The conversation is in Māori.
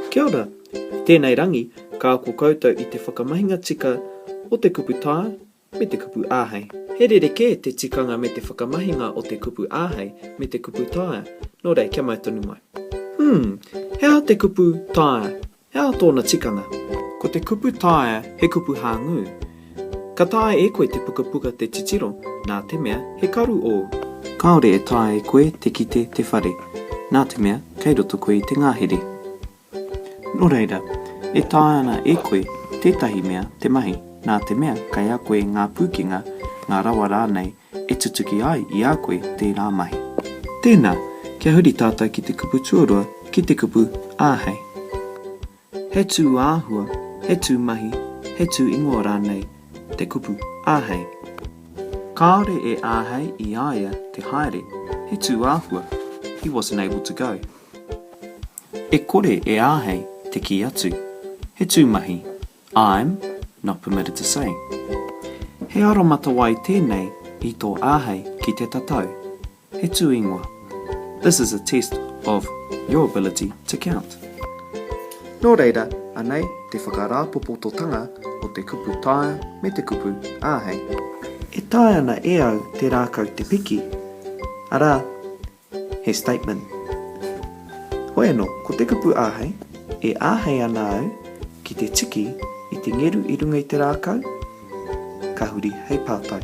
Kia ora! I tēnei rangi, ka ako koutou i te whakamahinga tika o te kupu tā me te kupu āhei. He rerekē te tikanga me te whakamahinga o te kupu āhei me te kupu taea, nō reira kia mau tonu mai. Umm, he aha te kupu taea? He aha tōna tikanga? Ko te kupu taea he kupu hāngū. Ka taea e koe te pukapuka te titiro, nā te mea he karu ōu. Kāore e taea e koe te kite te whare, nā te mea kei roto koe i te ngahere. Nō reira, e taea ana e koe tētahi mea te mahi, nā te mea kei a koe ngā pūkenga, ngā rawa rānei e tutuki ai i a koe tērā mahi. Tēnā, kia huri tātou ki te kupu tuarua, ki te kupu āhei. He tū āhua, he tū mahi, he tū ingoa rānei te kupu āhei? Kāore e āhei i a ia te haere, he tū āhua, he wasn't able to go. E kore e āhei te kī atu, he tū mahi, I'm not permitted to say. He aromatawai tēnei i tō āhei ki te tatau, He tū ingoa. This is a test of your ability to count. Nō reira, anei te whakarāpopototanga o te kupu taea me te kupu āhei. E taea ana e au te rākau te piki, arā, he statement. Hoi anō, ko te kupu āhei, e āhei ana au ki te tiki i te ngeru i runga i te rākau, Ka huri hei pātai.